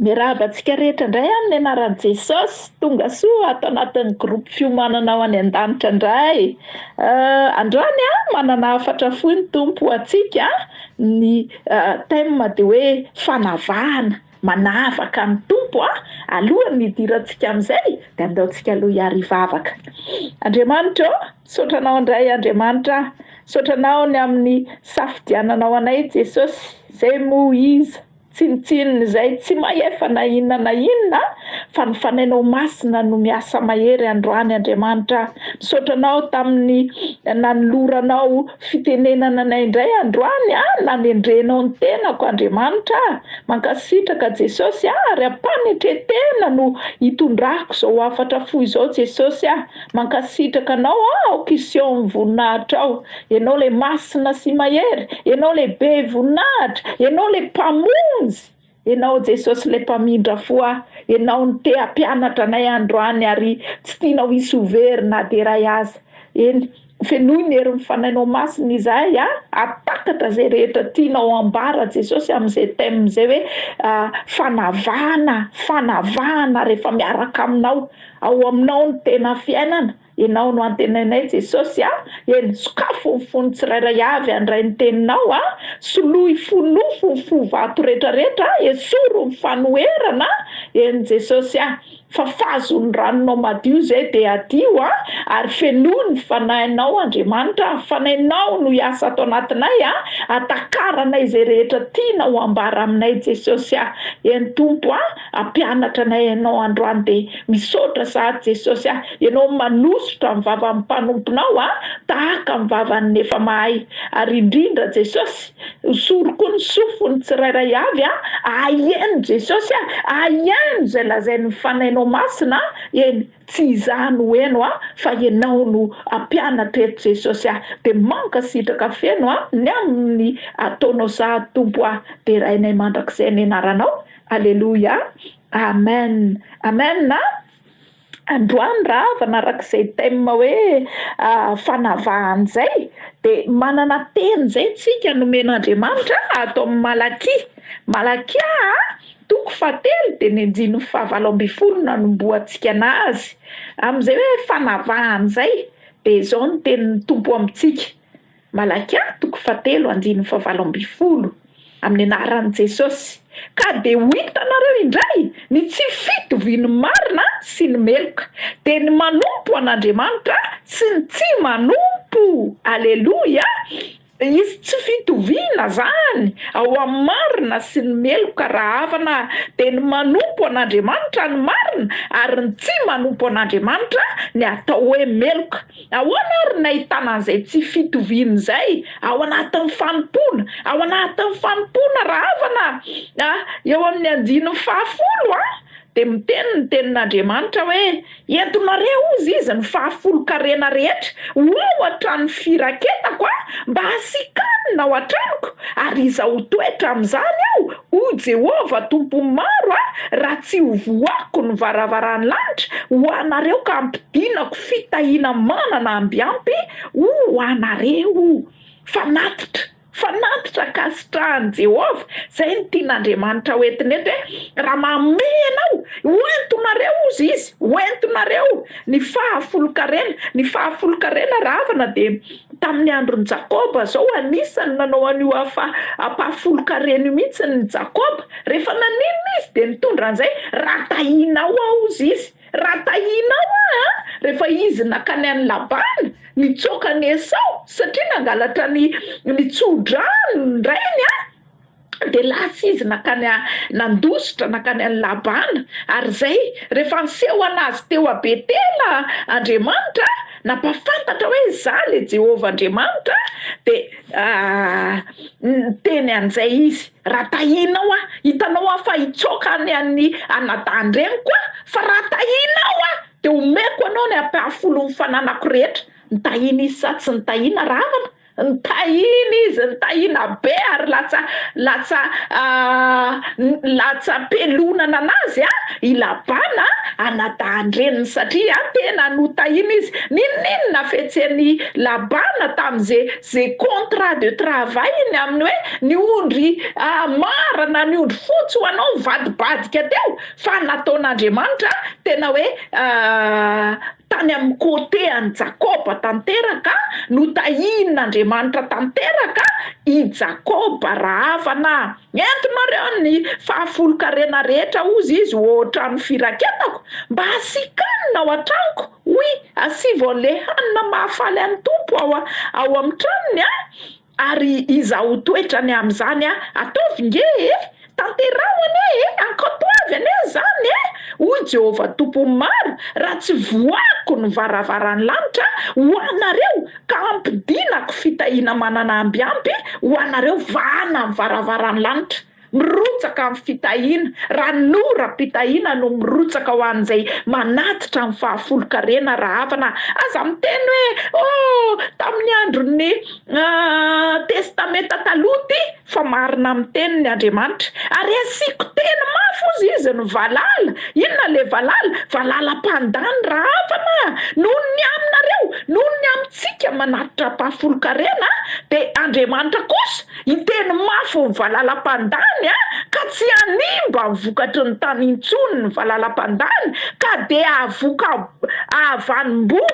Miarahaba antsika rehetra indray amin'ny anaran'i Jesosy, tongasoa ato anatin'ny groupe fiomanana ho any an-danitra indray eh, androany a ah, manana hafatra fohy ny Tompo ho antsika, ny eh, thème dia hoe fanavahana, manavaka ny Tompo a, ah. alohan'ny hidirantsika amin'izay dia andeontsika aloha hiarivavaka. Andriamanitra ô. Misaotra anao indray Andriamanitra ah. Misaotra anao ny amin'ny safidiananao anay Jesosy, zay moa iza? Tsinontsinona izay tsy mahefa na inona na inona fa ny fanainao masina no miasa mahery androany Andriamanitra ah. Misaotra anao tamin'ny nanoloranao fitenenana anay indray androany ah, nanendrenao ny tenako Andriamanitra ah. Mankasitraka Jesosy ah, ary am-panetretena no hitondrako izao hafatra fohy izao Jesosy ah. Mankasitraka anao aho kiseho ny voninahitrao ianao ilay masina sy mahery ianao ilay be voninahitra ianao ilay mpamonjy ianao Jesosy ilay mpamindra fo ahy ianao no te hampianatra anay androany ary tsy tianao hisy ho very na dia iray aza eny fenoy ny herin'ny fanainao masina izahay a atakatra izay rehetra tianao hambara Jesosy amin'izay thème izay hoe ah, fanavahana fanavahana rehefa miaraka aminao Ao aminao no tena fiainana, ianao no antenainay Jesosy a, eny sokafo ny fon'ny tsirairay avy handray ny teninao a, soloy fonofo ny fo vato retraretra a, esoro ny fanoherana a, eny Jesosy a, fafazo ny ranonao madio zay de adio a, ary fenoy ny fanahinao Andriamanitra a, fanainao no hiasa ato anatinay a, atakaranay zay rehetra tianao ambara aminay Jesosy a, eny Tompo a, Ampianatra anay ianao androany dia misaotra sahady Jesosy ah ianao manosotra ny vavan'ny mpanomponao ah tahaka ny vavan'ny efa mahay ary indrindra Jesosy hosory koa ny sofin'ny tsirairay avy ah ahieno Jesosy ah ahieno izay lazain'ny ny fanainao masina ah eny tsy izaho no heno ah fa ianao no ampianatra eto Jesosy ah dia mankasitraka feno ah ny amin'ny ataonao sahady Tompo ah derainay mandrakizay ny anaranao Aleloia Amen Amen a! Androany raha avana arak'izay thème hoe fanavahana zay de manana teny zay tsika nomen'Andriamanitra ato amin'ny Malakia, Malakia a toko fahatelo de ny andininy fahavalo ambin'ny folo no anombohantsika anazy amin'izay hoe fanavahana zay de zao ny tenin'ny Tompo amintsika. Malakia toko fahatelo andininy fahavalo ambin'ny folo, Amin'ny anaran'i Jesosy, ka dia ho hitanareo indray ny tsy fitovian'ny marina sy ny meloka, dia ny manompo an'Andriamanitra sy ny tsy manompo. Aleloia! Hisy tsy fitoviana izany ao amin'ny marina sy ny meloka raha havana, dia ny manompo an'Andriamanitra ny marina ary ny tsy manompo an'Andriamanitra ny atao hoe meloka. Ahoana àry ny nahitana an'izay tsy fitoviana izay ao anatin'ny fanompoana? Ao anatin'ny fanompoana, rahavana a, eo amin'ny andininy fahafolo a, dia miteny ny Tenin'Andriamanitra hoe, Entonareo, hozy Izy, ny fahafolon-karena rehetra ho ao hatramin'ny firaketako a, mba hasikanina ao an-tranoko, ary Izaho ho toetra amin'izany ao, O Jehovah Tompo maro aho raha tsy hovohako ny varavaran'ny lanitra ho anareo ka hampidinako fitahiana manana ambiampy ho anareo. Fanatitra, fanatitra ankasitrahan'i Jehovah, izay no tian'Andriamanitra ho entiny eto hoe, raha mamehy anao, ho entonareo hozy izy, ho entonareo ny fahafolonkarena, ny fahafolonkarena rahavana dia Tamin'ny andron'i Jakoba izao, anisan'ny nanao an'io hafa ampahafolon-kareny io mihitsy ny Jakoba. Rehefa naninona izy, dia nitondra an'izay, Raha tahinao aho, hozy izy, raha tahinao aho, a! Rehefa izy nankany an'i Labana, nitsoaka an'i Esao, satria nangalatra ny ny tso-drano ny rainy, a! dia lasa izy nankany a nandositra nankany any Labana, ary izay rehefa niseho an'azy teo a Betela Andriamanitra a, nampahafantatra hoe izaho le Jehovah Andriamanitra a, dia niteny an'izay izy, raha tahinao aho, hitanao aho fa hitsaoka any an'ny anadahin-dreniko aho, fa raha tahinao aho dia homeko anao ny ampahafolon'ny fananako rehetra, nitahina izy sa tsy nitahina rahavana? Nitahiana izy, nitahiana be ary latsa latsa latsa-pelonana anazy i Labana anadahin-dreniny satria tena notahiana izy. N'inon'inona fihetsehany Labana tamin'ze ze contrat de travail-ny amin'ny hoe ny ondry mara na ny ondry fotsy ho anao nivadibadika teo fa nataon'Andriamanitra tena hoe Tany amin'ny côté an'i Jakôba tanteraka no tahian'Andriamanitra tanteraka i Jakôba rahavana. Entonareo ny fahafolon-karena rehetra, hozy izy, ô trano firaketako, mba hasiaka hanina ao an-tranoko. Oui, asivo an'ilay hanina mahafaly an'ny Tompo ao amin'ny tranony an! Ary iza ho toetra ny amin'izany a! Ataovy nge e! Tanteraho anie e! Ankatoavy anie izany e! hoy Jehovah Tompon'ny maro, raha tsy voahako ny varavaran'ny lanitra ho anareo ka hampidinako fitahiana manana ambiampy ho anareo vahana ny varavaran'ny lanitra. Mirotsaka amin'ny fitahiana, ranoram-pitahiana no mirotsaka ho an'izay manatitra ny fahafolon-karena rahavana, aza miteny hoe oh tamin'ny andron'ny Testamenta Taloha ity fa marina amin'ny teniny Andriamanitra, ary asiako teny mafy hozy izy ny valala, inona ilay valala? Valala mpandà ny rahavana, noho ny aminareo, noho ny amintsika manatitra ampahafolon-karena dia Andriamanitra kosa Hiteny mafy ny valalam-pandany a! Ka tsy hanimba ny vokatry ny tany intsony ny valalam-pandany ka dia hahavoka hahavanim-boa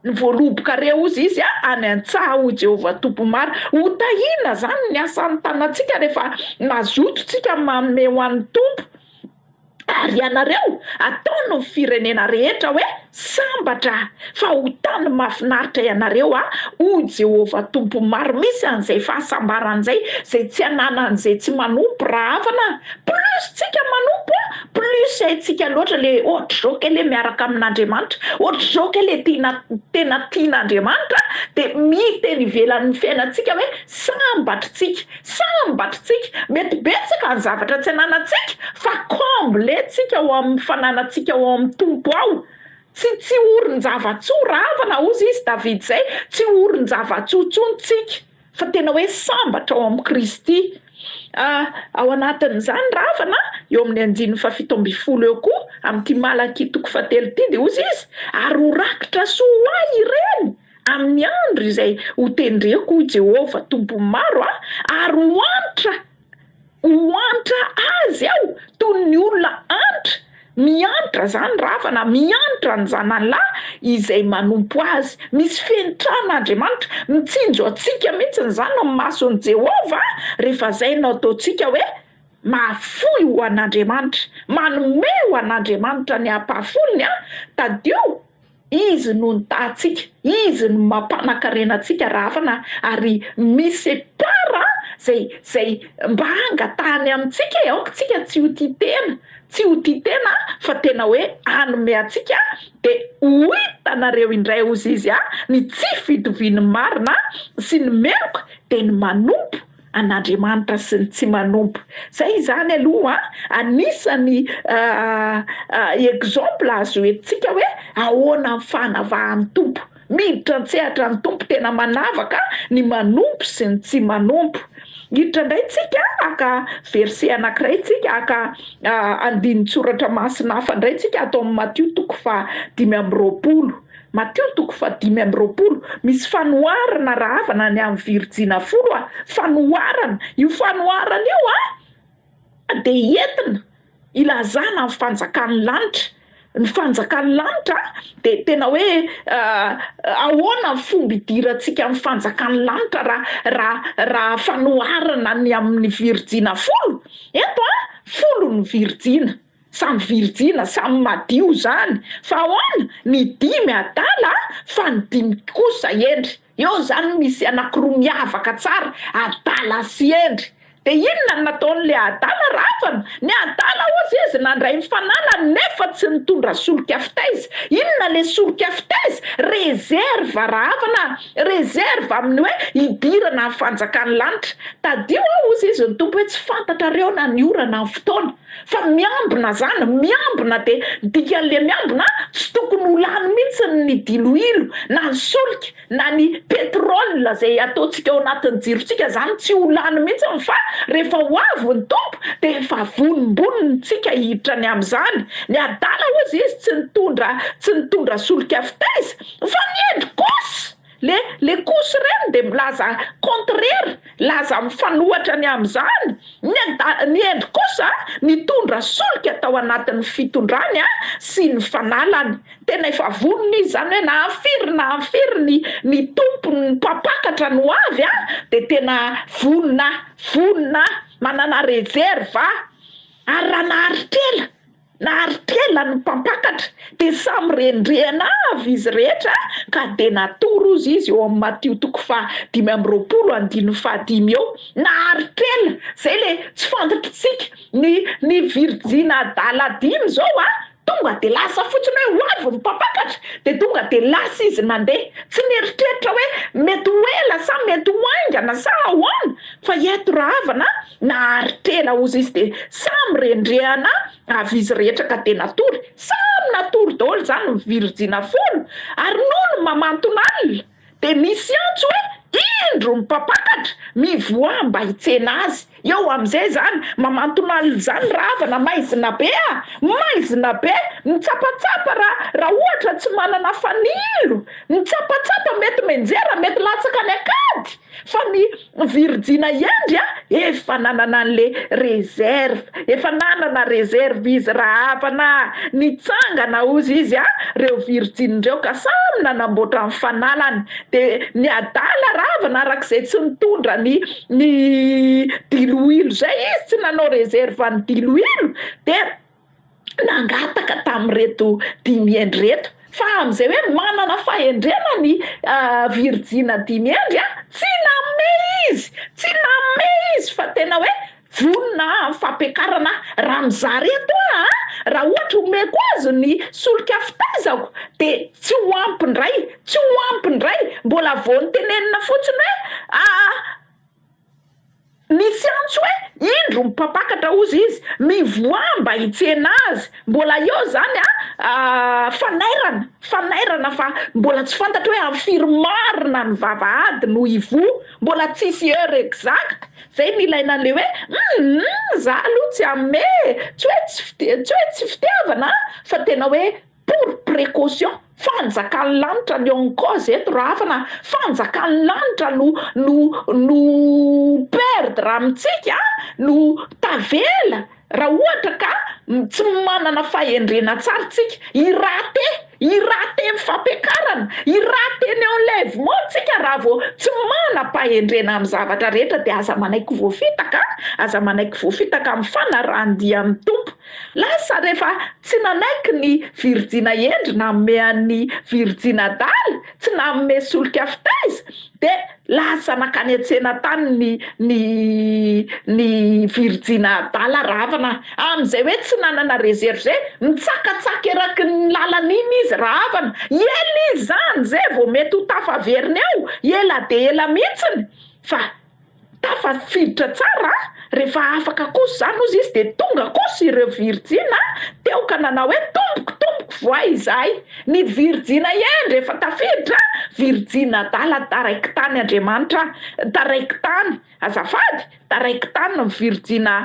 ny voalobokareo, hozy izy, any an-tsaha, hoy Jehovah Tompo-Mary. Ho tahiana izany ny asan'ny tanantsika rehefa nazotontsika manome ho an'ny Tompo. Ary ianareo ataon ny firenena rehetra hoe sambatra fa ho tany mahafinaritra ianareo a O Jehovah Tompo Maro misy an izay fahasambarana izay izay tsy ananany izay tsy manompo rahavana Plus tsika manompo a plus haintsika loatra le ohatr'izao kay le miaraka amin'Andriamanitra ohatr'izao kay le tina tena tian'Andriamanitra dia miteny ivelan'ny fiainantsika hoe sambatritsika Tsara ny batritsika, mety betsaka ny zavatra tsy ananantsika fa comble tsika ao amin'ny fananantsika ao amin'ny Tompo ao, tsy tsy orin-java-tsoa, ravana hozy izy David zay, tsy orin-java-tsoa intsony tsika fa tena hoe sambatra ao amin'i Kristy, ah ao anatin'izany ravana eo amin'ny andininy fahafito ambin'ny folo eo koa amin'ity Malakia toko fahatelo ity dia hozy izy ary ho rakitra soa ho ahy ireny, Amin'ny andro izay hotendreko, hoy Jehovah Tompon'ny maro aho, ary ho antra, ho antra azy aho toy ny olona antra, miantra izany ravana, miantra ny zanany lahy izay manompo azy. Misy fenitran'Andriamanitra. Mitsinjo antsika mihitsy izany ny mason'i Jehovah, rehefa izay no ataontsika hoe, Mahafoy ho an'Andriamanitra. Manome ho an'Andriamanitra ny ampahafolony aho. Tadidio. Izy no nitahantsika, Izy no mampanan-karena antsika raha hafana ary misy part zay zay mba hangatahany amintsika e, aoka tsika tsy ho tia tena, tsy ho tia tena fa tena hoe hanome antsika de ho hitanareo indray hozy izy a, ny tsy fitovian'ny marina sy ny meloka de ny manompo, an'Andriamanitra sy ny tsy manompo. Zay izany aloha anisan'ny exemple azo entintsika hoe ahoana ny fanavahan'ny Tompo. Miditra an-tsehatra ny Tompo tena manavaka ny manompo sy ny tsy manompo. Hiditra indray tsika haka verset anankiray tsika haka andinin-tsoratra masina hafa indray tsika ato amin'ny Matio toko faha dimy amby roapolo. Matio toko fahadimy amby roapolo, Misy fanoharana rahavana ny amin'ny virijina folo a, fanoharana, io fanoharana io a dia entina ilazana amin'ny fanjakan'ny lanitra, ny fanjakan'ny lanitra a dia tena hoe ahoana ny fomba idirantsika amin'ny fanjakan'ny lanitra raha raha raha fanoharana ny amin'ny virijina folo, eto a folo ny virijina. Samy virjina, samy madio zany fa ahoana? Ny dimy adala fa ny dimy kosa hendry, eo zany misy anakiroa miavaka tsara, adala sy hendry, de inona no nataony le adala ravana? Ny adala ozy izy nandray ny fananany nefa tsy nitondra solika fitaiza, inona le solika fitaiza? Reserve ravana, reserve amin'ny hoe hidirana ny fanjakan'ny lanitra, tadio aho ozy izy ny Tompo hoe tsy fantatrareo na ny ora na ny fotoana, Fa miambina zany, miambina dia dikan'le miambina a, tsy tokony ho lany mintsy ny diloilo na ny solika na ny petrole zay ataontsika ao anatin'ny jirontsika zany tsy ho lany mintsy fa rehefa ho avy ny Tompo dia efa vonimbonintsika hiditra any amin'izany. Ny adala ozy izy tsy nitondra tsy nitondra solika fitaiza fa ny hendry kosa Le le cousy reny de milaza contraire laza mifanohatra ny amzany ny anda ny endry kosa nitondra solika tao anatiny fitondrany a sy ny fanalany tena efa vonona izy zany hoe na firy na firy ny ny tompony ny mpampakatra ny hoavy a de tena vonona vonona manana reserve ary raha naharitra ela Nari-piainany ny mpampakatra, dia samy rendrehana avy izy rehetra, ka dia natory, hozy izy, eo amin'i Matio toko faha dimy amby roapolo andininy faha dimy eo, nari-piaina, zay le tsy fantatritsika, ny ny virjina adala dimy zao a, tonga dia lasa fotsiny hoe ho avy ny mpampakatra, dia tonga dia lasa izy nandeha, tsy nieritreritra hoe mety ho ela sa mety ho haingana sa ahoana, Fa ireto rahavana nahary tena ozy izy dia samy rendrehana avy izy rehetra ka dia natory, samy natory daholo izany ny virjina folo ary nony mamanton'alina dia nisy antso hoe indro ny mpampakatra mivoaha mba hitsena azy, eo amin'izay izany mamanton'alina izany rahavana maizina be a! maizina be, mitsapatsapa ra raha ohatra tsy manana fanilo, mitsapatsapa mety menjera mety latsaka any an-kady, Fa ny virjina iandry a efa nanana anle reserve efa nanana reserve izy rahavana nitsangana ozy izy a reo virjiny reo ka samy nanamboatra ny fanalany de ny adala rahavana arak'izay tsy nitondra ny ny diloilo zay izy tsy nanao reserve ny diloilo de nangataka tamin'ireto dimy hendry ireto fa amin'izay hoe manana fahendrena ny virijina dimy hendry a tsy nanome izy tsy nanome izy fa tena hoe vonona amin'ny fampiakarana raha mizaha reto a raha ohatra omeko azy ny solika fitaizako de tsy ho ampy indray tsy ho ampy indray mbola vao nitenenina fotsiny hoe a Misy antso hoe indro mpampakatra ozy izy mivoaha mba hitsena azy mbola eo zany a fanairana fanairana fa mbola tsy fantatro hoe am firy marina ny vavahady no hivoha mbola tsisy heure exact zay ny ilaina anle hoe humm za aloha tsy ame tsy hoe tsy fite tsy hoe tsy fitiavana a fa tena hoe Pour précaution, fanjakan'ny lanitra ny on cause eto raha hafa na fanjakan'ny lanitra no no no perdre amintsika a, no tavela raha ohatra ka tsy manana fahendrena tsara tsika, hirate, hirate ny fampiakarana, hirate ny enlèvement tsika raha vao tsy manam-pahendrena amin'ny zavatra rehetra dia aza manaiky voafitaka a, aza manaiky voafitaka amin'ny fanarahan-dia amin'ny Tompo. Lasa rehefa tsy nanaiky ny virijina hendry nanome an'ny virijina adala, tsy nanome solika fitaiza, dia lasa nankany an-tsena tany ny ny ny virijina adala Rahavana. Amin'izay hoe tsy nanana reserve, nitsakatsaka eraky ny lalana iny izy Rahavana. Ela izy izany izay vao mety ho tafaveriny ao, ela dia ela mihitsiny fa Tafafiditra tsara a! Rehefa afaka kosa izany hozy izy dia tonga kosa ireo virijina teo ka nanao hoe, Tompoko, tompoko, voay izahay! Ny virijina hendry efa tafiditra a! Virijina adala, taraiky tany Andriamanitra a! Taraiky tany, azafady, taraiky tany ny virijina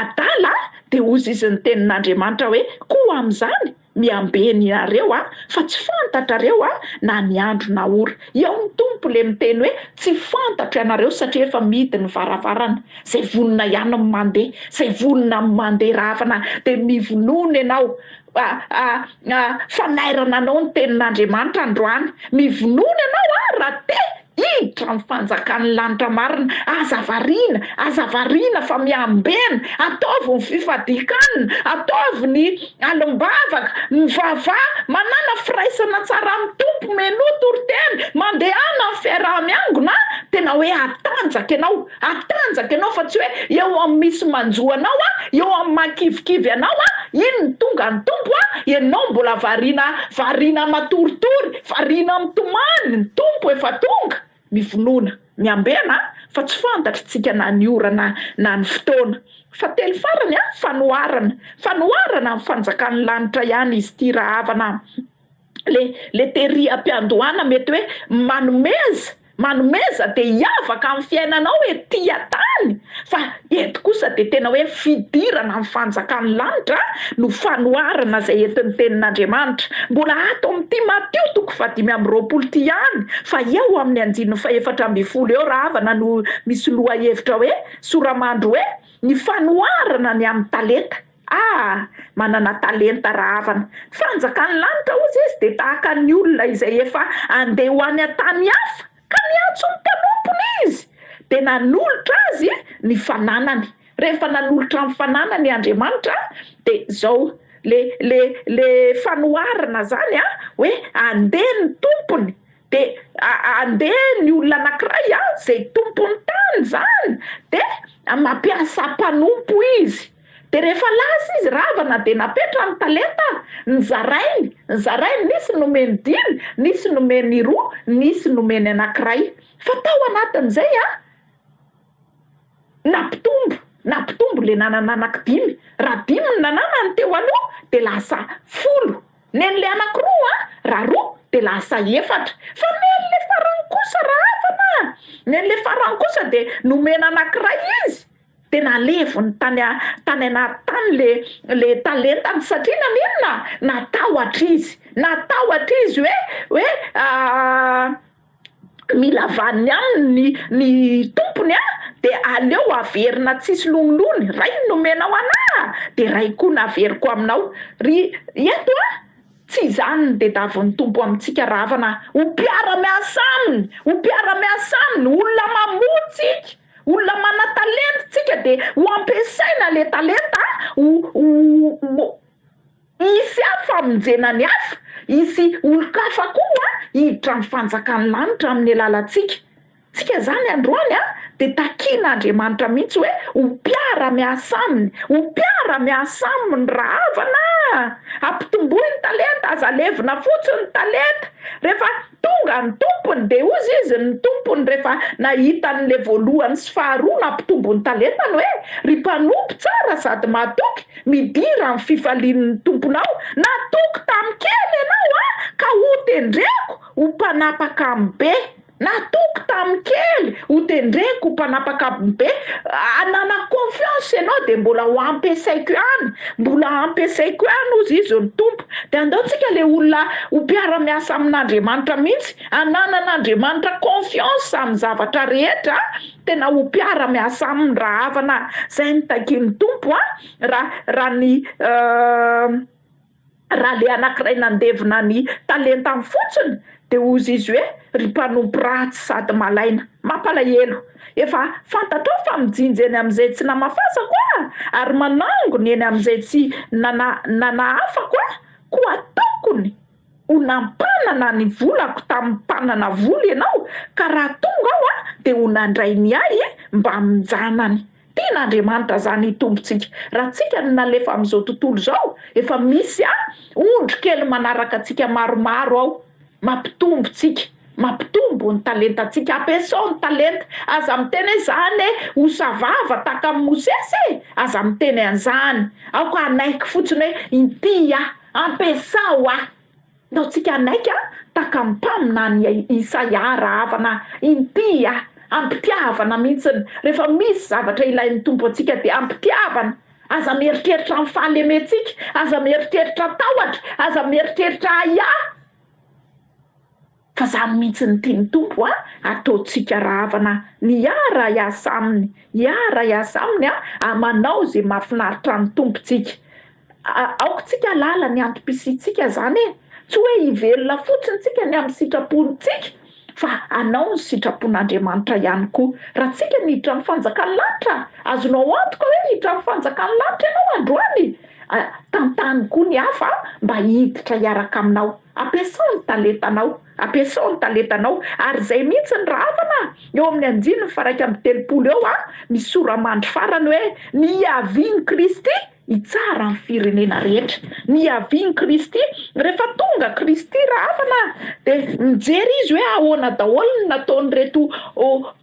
adala a! Dia hozy izy niteny ny Andriamanitra hoe, Koa amin'izany, Miambe ny nareo a fa tsy fantatrareo a na ny andro na ora eo ny Tompo le miteny hoe tsy fantatro ianareo satria efa mihidy ny varavarana zay vonona ihany ny mande zay vonona ny mande ravana de mivonona ianao a a a fanairana anao ny tenin'Andriamanitra androany mivonona ianao a raha te Hiditra amin'ny fanjakan'ny lanitra marina. Aza variana, aza variana fa miambena. Ataovy ny fifadian-kanina, ataovy ny alim-bavaka, mivavaha, manàna firaisana tsara amin'ny Tompo, menoa toriteny, mandehana amin'ny fiaraha-miangona, tena hoe hatanjaka ianao. Hatanjaka ianao fa tsy hoe eo amin'ny misy manjo anao a, eo amin'ny mahakivikivy anao a, iny ny tonga an'ny Tompo a, ianao mbola variana variana matoritory, variana mitomany, ny Tompo efa tonga, mivonona, miambena a, fa tsy fantatr'tsika na ny ora na na ny fotoana. Fahatelo farany a, fanoharana, fanoharana ny fanjakan'ny lanitra ihany izy ity rahavana a. le le tery ampiandohana mety hoe manomeza manomeza de hiavaka amin'ny fiainanao hoe tia tany fa eto kosa de tena hoe fidirana amin'ny fanjakan'ny lanitra no fanoharana izay entin'ny tenin'Andriamanitra mbola ato amin'ny Timoteo toko fahadimy amby roapolo ity ihany fa eo amin'ny andininy fahefatra ambin'ny folo eo raha havana no misy lohahevitra hoe soramandry hoe ny fanoharana ny amin'ny talenta Ah! Manana talenta rahavana. Fanjakan'ny lanitra hozy izy dia tahaka ny olona izay efa andeha ho any an-tany hafa ka niantso ny mpanompony izy dia nanolotra azy ny fananany. Rehefa nanolotra ny fananany Andriamanitra dia izao le le le fanoharana izany an, hoe andeha ny tompony dia andeha ny olona anankiray an, izay tompon'ny tany izany dia mampiasa mpanompo izy. Dia rehefa lasa izy ravana dia napetrany ny talenta, nizarainy, nizarainy, nisy nomeny dimy, nisy nomeny roa, nisy nomeny anankiray. Fa tao anatin'izay an, nampitombo, nampitombo ilay nanana anankidimy. Raha dimy ny nananany teo aloha dia lasa folo. Nen'ilay anankiroa an, raha roa dia lasa efatra. Fa nen'ilay farany kosa ravana, nen'ilay farany kosa dia nomena anankiray izy, Tena aleviny tany tany anaty tany le le talentany satria naninona? Natahotra izy, natahotra izy hoe hoe mila vaniny aminy ny ny tompony a, de aleo averina tsisy lonilony, ray ny nomenao ana de ray koa no averiko aminao, ry eto a tsy izany ny tedavon'ny Tompo amintsika rahavana, ho mpiara-miasa aminy, ho mpiara-miasa aminy, olona mamoa tsika. Olona manatalenta tsika de ho ampiasaina le talenta ho ho hisy hafa famonjena ny hafa, hisy olon-kafa koa hiditra amin'ny fanjakan'ny lanitra amin'ny alalantsika. Tsika zany androany a de takian'Andriamanitra mihitsy hoe ho mpiara miasa aminy, ho mpiara miasa aminy ra havana a! Ampitomboy ny talenta, aza levona fotsiny ny talenta, rehefa. Tonga ny tompony dia hozy izy ny tompony rehefa nahita an'le voalohany sy faharoa nampitombo ny talentany hoe, ry mpanompo tsara sady mahatoky, midira amin'ny fifalian'ny tomponao, natoky tamin'ny kely ianao an, ka hotendreko ho mpanapaka amin'ny be. Natoky tamin'ny kely, hotendreko ho mpanapaka amin'ny be. Ananako confiance ianao dia mbola ho ampiasaiko ihany, mbola hampiasaiko ihany hozy izy ny tompo. Dia andao tsika le olona ho mpiara miasa amin'Andriamanitra mihitsy hananana Andriamanitra confiance amin'ny zavatra rehetra a, tena ho mpiara miasa aminy raha havana zay no takian'ny Tompo a, raha raha ny raha le anakiray nandevina ny talentany fotsiny Dia hozy izy hoe, Ry mpanompo ratsy sady malaina, mampalahelo! Efa fantatrao fa mijinja eny amin'izay tsy namafazako Aho, ary manangona eny amin'izay tsy nana, nanahafako Aho, koa tokony ho nampanana ny volako tamin'ny mpanana vola ianao, ka raha tonga Aho dia ho nandray ny Ahy mbamin-janany. Tiana Andriamanitra zany hitompontsika. Raha tsika no nalefa amin'izao tontolo izao, efa misy a ondry kely manaraka antsika maromaro ao mampitombo tsika, mampitombo ny talentantsika. Ampiasao ny talenta, aza miteny hoe zany e ho savava tahaka an'i Mosesy e, aza miteny an'izany, aoka hanaiky fotsiny hoe inty aho, ampiasao aho. Ndao tsika hanaiky an takam pam na ny Isaia rahavana inty a! Ampitiavana mintsiny! Rehefa misy zavatra ilain'ny Tompo antsika dia ampitiavana! Aza mieritreritra ny fahalementsika, aza mieritreritra tahotra, aza mieritreritra ahiahy fa zany mintsiny tian'ny Tompo an! Ataontsika rahavana miara hiasa aminy, hiara hiasa aminy an! Manao ze mahafinaritra ny Tompo tsika! Aoka tsika halala ny antom-pisiantsika zany e! Tsy hoe hivelona fotsiny tsika ny amin'ny sitrapontsika fa hanao ny sitrapon'Andriamanitra ihany koa. Raha tsika ny hiditra amin'ny fanjakan'ny lanitra, azonao antoka hoe hiditra amin'ny fanjakan'ny lanitra ianao androany. Tantano koa ny hafa mba hiditra hiaraka aminao. Ampiasao ny talentanao, ampiasao ny talentanao. Ary izay mihitsy ny rahavana eo amin'ny andininy faha-iraika amby telopolo eo misy sora-mandry farany hoe, Niavian'i Kristy. Hitsara ny firenena rehetra. Nihavian'i Kristy. Rehefa tonga Kristy rahafana dia mijery izy hoe ahoana daholo ny nataon'ireto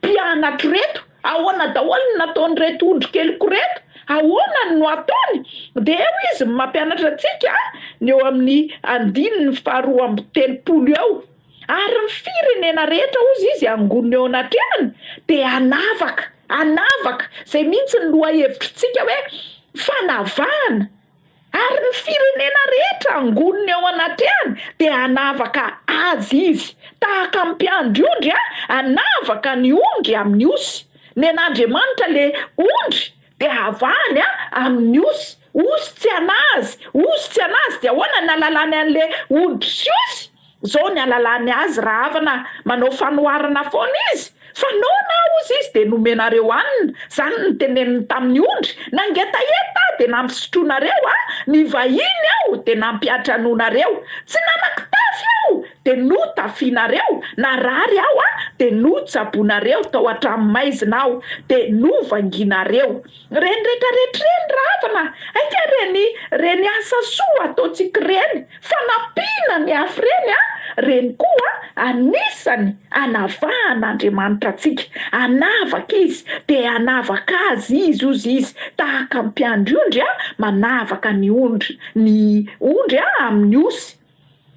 mpianatro ireto, ahoana daholo ny nataon'ireto ondry keliko ireto, ahoana no ataony. Dia eo izy mampianatra antsika ny eo amin'ny andininy faharoa amby telopolo eo. Ary ny firenena rehetra, hozy izy, hangonina eo anatrehan, dia hanavaka, hanavaka, izay mihitsy ny lohahevitrtsika hoe fanavahana, ary ny firenena rehetra hangonina eo anatrehany dia hanavaka Azy izy, tahaka ny mpiandry ondry a, hanavaka ny ondry amin'ny osy, nen'Andriamanitra le ondry dia havahany a amin'ny osy. Ozy tsy anazy, ozy tsy anazy dia ahoana ny alalany anle hoditry sy ozy, zao ny alalany azy raha havana manao fanoharana foana izy fa noana ozy izy dia nomenareo hanina, zany ny teneniny taminy ondry nangetaheta aho dia nampisotronareo aho, nivahiny aho dia nampiantranoanareo, tsy nanakitafy aho dia no tafianareo, narary aho dia no tsaboinareo, tao atrano maizina aho dia no vanginareo. Reny rehetra rehetra reny ravana aika reny reny asa soa ataontsika reny fanampiana ny hafa reny a reny koa anisany anavahana Andriamanitra antsika anavaka izy de anavaka azy izy ozy izy tahaka mpiandry ondry a manavaka ny ondry ny ondry a amin'ny osy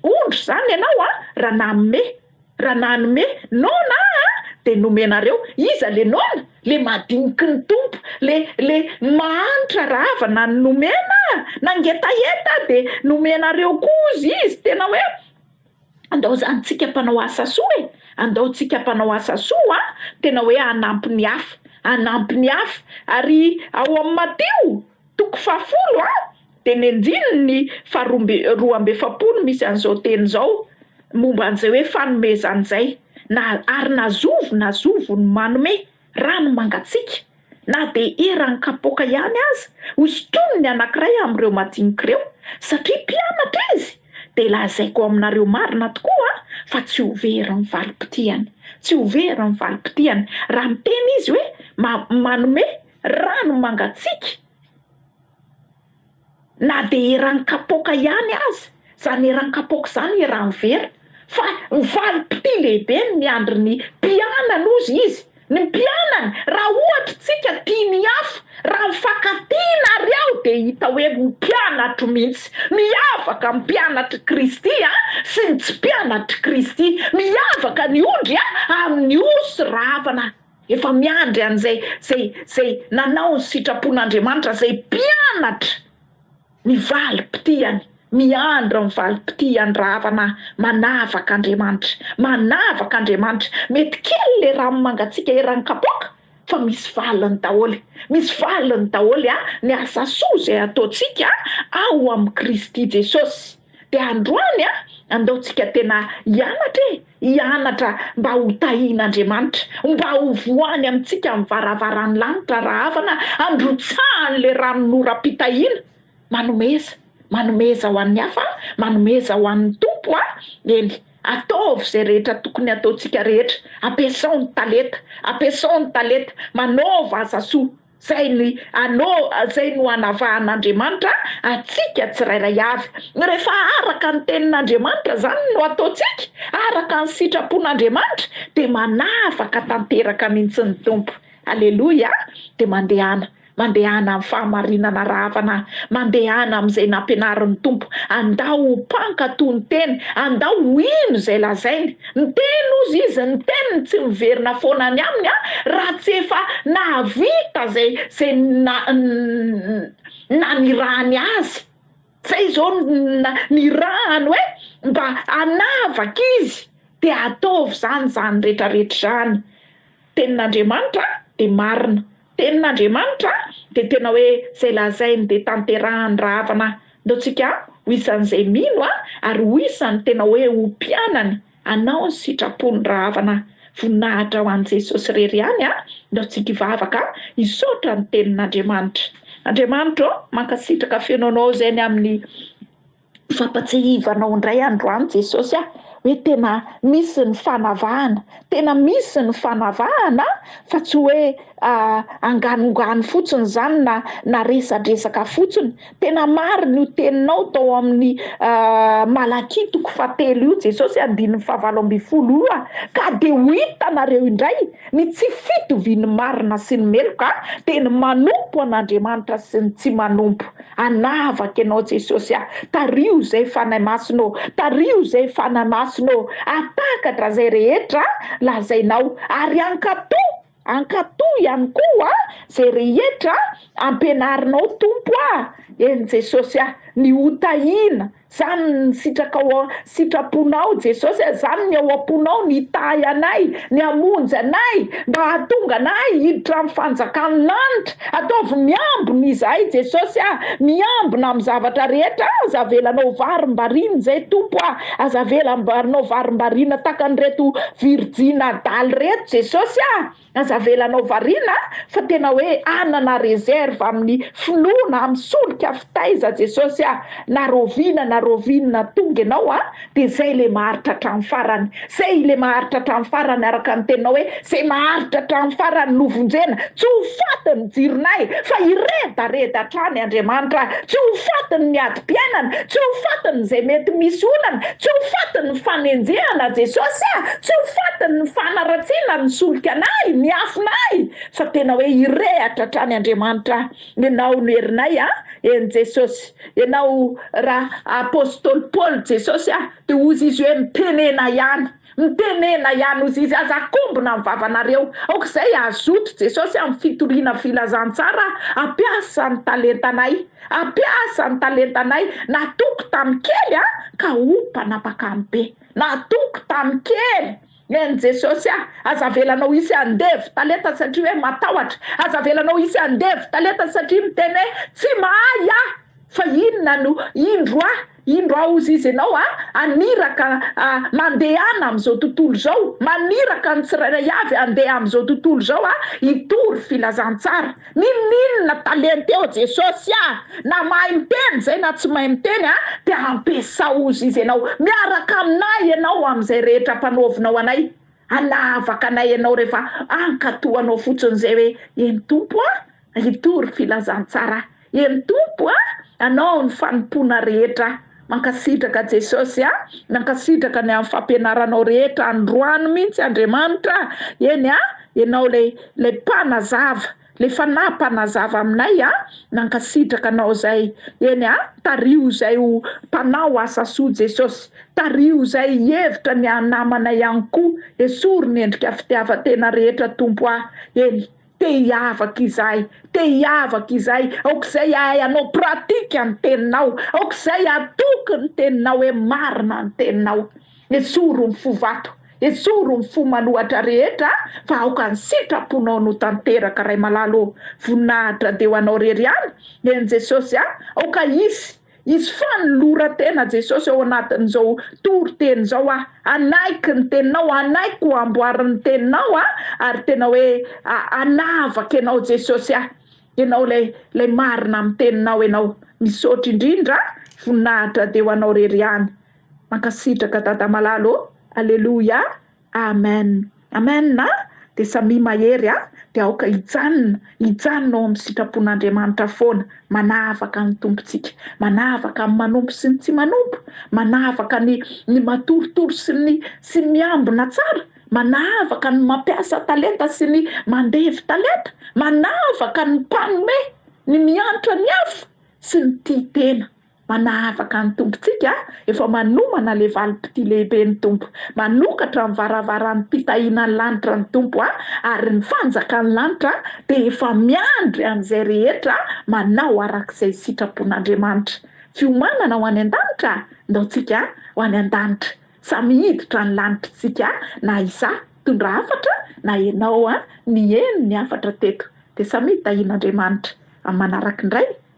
ondry zany ianao a raha nanome Raha nanome nona aho dia nomenareo. Iza le nona? Le madiniky ny Tompo, le le mahantra rava na ny nomena nangetaheta de nomenareo kozy izy tena hoe andao zany tsika mpanao asa soa e, andao tsika mpanao asa soa an, tena hoe hanampy ny hafa, hanampy ny hafa ary ao amin'ny Matio, Toko fahafolo A, dia ny andininy faharoa amby roa amby efapolo misy an'izao teny izao momba an'izay hoe fanomezana izay, Na, ary na zovy na zovo no manome, raha ny mangatsiaka, na dia eran'ny kapoaka ihany aza, ho sintoniny ny anankiray amin'ireo madinika ireo, satria mpianatra izy, dia lazaiko aminareo marina tokoa fa tsy ho very ny valim-potihany. Tsy ho very ny valim-potihany, raha miteny izy hoe, ma, manome. Rano mangatsiaka, na dia eran'ny kapoaka ihany aza, izany eran'ny kapoaka izany eran'ny vera, fa ho valim-pitia lehibe ny miandry ny mpianany hozy izy, ny mpianany, raha ohatra isika tia ny hafa, raha mifankatia ary aho dia hita hoe mpianatro mihitsy, miavaka ny mpianatr'i Kristy sy ny tsy mpianatr'i Kristy, miavaka ny ondry amin'ny osy rahavana. Efa miandry an'izay izay izay nanao ny sitrapon'Andriamanitra, izay mpianatra ny valim-pitihany, miandry ny valim-pitihany rahavana manavaka Andriamanitra, manavaka Andriamanitra, mety kely le rano mangatsiaka eran'ny kapoaka fa misy valiny daholo, misy valiny daholo an ny asa soa izay ataontsika ao amin'i Kristy Jesosy. Dia androany an, andao tsika tena hianatra e, hianatra mba ho tahin'Andriamanitra, mba ho voany amintsika amin'ny varavaran'ny lanitra rahavana handrotsahany ilay ranon'oram-pitahiana, manomeza, manomeza ho an'ny hafa an, manomeza ho an'ny Tompo an, eny, ataovy izay rehetra tokony hataontsika rehetra, ampiasao ny talenta, ampiasao ny talenta, manaova asa soa. Izay ny ano, izay no anavahan'Andriamanitra antsika tsirairay avy. Rehefa araka ny tenin'Andriamanitra izany no ataontsika, araka ny sitrapon'Andriamanitra, dia manavaka tanteraka mihitsy ny Tompo. Aleloia! Dia mandehana, mandehana amin'ny fahamarinana rahavana, mandehana amin'izay nampianarin'ny Tompo, andao ho mpankato ny tena, andao ho hino izay lazainy, Miteny ozy izy ny teniny tsy miverina foana any aminy an raha tsy efa nahavita zay zay na nanirahany azy zay zao na nirahany hoe mba hanavaka izy de ataovy zany zany retraretra zany tenin'Andriamanitra de marina Tenin'Andriamanitra dia tena hoe izay lazainy dia tanterahany rahavana ataontsika ho isan'izay mino ary ho isan'ny tena hoe ho mpianany hanao ny sitrapon'ny rahavana voninahitra ho an'i Jesosy irery ihany ataontsika hivavaka hisaotra ny tenin'Andriamanitra Andriamanitra ô mankasitraka feno anao izay ny amin'ny Fampatsiahivana anao indray androany Jesosy ah, hoe tena misy ny fanavahana, tena misy ny fanavahana fa tsy hoe anganongano fotsiny izany na na resadresaka fotsiny, tena marina io teninao tao amin'ny Malakia toko fahatelo io Jesosy andininy fahavalo ambin'ny folo io ah, ka de ho hitanareo indray ny tsy fitovian'ny marina sy ny meloka dia ny manompo an'Andriamanitra sy ny tsy manompo. Hanavaka ianao Jesosy a! Tariho izay Fanahy Masina ô! Tariho izay Fanahy Masina ô! Hahatakatra izay rehetra lazainao ary hankatò, hankatò ihany koa izay rehetra ampianarinao Tompo a! Eny Jesosy a! Ny hotahiana. Zany ny sitraka ao an sitraponao Jesosy a Zany ny ao amponao Ny hitahy anay Ny hamonjy anay Mba hahatonga anay Hiditra amin'ny fanjakan'ny lanitra Ataovy miambina izahay Jesosy a Miambina amin'ny zavatra rehetra a Aza avela anao varimbariana izay Tompo a Aza avela anao varimbariana Takan'ireto virjina adala ireto Jesosy a. Aza avelanao variana fa tena hoe hanana reserve aminy finoana am solika fitaiza jesosy a! na roviana na rovinina tonga enao a de zay le maharitra hatram farany zay le maharitra hatram farany araka ny teninao hoe zay maharitra hatram farany no vonjena tsy ho faty ny jironay fa hiredareda hatrany Andriamanitra a tsy ho faty ny miady fifidianana, tsy ho fatiny izay mety misy olana, tsy ho fatiny ny fanenjehana Jesosy ah, tsy ho fatiny ny fanaratsiana ny solika anay, ny afonay, fa tena hoe hirehatra hatrany Andriamanitra ah, Ianao no herinay ah, eny Jesosy, Ianao raha Apostoly Paoly Jesosy ah, dia hozy izy hoe mitenena ihany. Mitenena ihany ozy izy aza akombona ny vavanareo aok'izay azoto jesosy amin'ny fitoriana filazantsara ampiasa ny talentanay ampiasa ny talentanay natoky tamin'ny kely a ka ho mpanapaka amin'ny be natoky tamin'ny kely en jesosy a aza avelanao hisy andevo talenta satria hoe matahotra aza avelanao hisy andevo talenta satria miteny hoe tsy mahay aho fa inona no indro a Indro aho hozy izy ianao a, haniraka a, mandehana amin'izao tontolo izao, maniraka ny tsirairay avy handeha amin'izao tontolo izao a, hitory filazantsara. Ninoninona talenta eo Jesosy a! Na mahay miteny izay na tsy mahay miteny a, dia ampiasao hozy izy ianao. Miaraka aminay ianao amin'izay rehetra ampanaovinao anay. Hanavaka anay ianao rehefa hankatoa anao fotsiny izay hoe, eny Tompo a, hitory filazantsara aho. Eny Tompo a! Anao ny fanompoana rehetra a! Mankasitraka Jesosy a! Mankasitraka ny amin'ny fampianaranao rehetra androany mihitsy Andriamanitra a! Eny a! Ianao ilay ilay mpanazava, ilay Fanahy mpanazava aminay a! Mankasitraka Anao izay! Eny a! Tariho izay ho mpanao asa soa Jesosy! Tariho izay hihevitra ny haha namana ihany koa! Esory ny endrika fitiavan-tena rehetra Tompo a! Eny. Te hiavaka izahay, te hiavaka izahay, aoka izay hahay hanao pratique ny teninao, aoka izay hatoky ny teninao hoe marina ny teninao. Esory ny fo vato, esory ny fo manohatra rehetra fa aoka ny sitraponao no tanteraka Ray malala ô, voninahitra dia ho anao rery ihany eny Jesosy a, aoka hisy. Izy Fanoloran-tena Jesosy ao anatin'izao toriteny izao aho, hanaiky ny Teninao, hanaiky ho amboarin'ny Teninao aho, ary tena hoe hanavaka Ianao Jesosy aho, Ianao ilay ilay marina amin'ny Teninao Ianao. Misaotra indrindra a! Voninahitra dia ho Anao irery ihany. Mankasitraka Dada malala ô! Aleloia! Amen Amen a de samia mahery a de aoka hijanona hijanona ao amin'ny sitrapon'Andriamanitra foana manavaka ny Tompontsika manavaka ny manompo sy ny tsy manompo manavaka ny ny matoritory sy ny sy ny miambina tsara manavaka ny mampiasa talenta sy ny mandevy talenta manavaka ny mpanome ny miantra ny hafa sy ny tia tena Manahavaka ny Tompontsika, efa manomana le valim-pitia lehibe ny Tompo. Manokatra ny varavaran'ny fitahiana ny lanitra ny Tompo a! ary ny fanjakan'ny lanitra dia efa miandry an'izay rehetra manao arak'izay sitrapon'Andriamanitra. Fiomanana ho any an-danitra? Ndaontsika ho any an-danitra. Samy hiditra ny lanitr'tsika na izaho hitondra hafatra na ianao niheno ny hafatra teto. Dia samy hitahian'Andriamanitra amin'ny manaraky ny Ray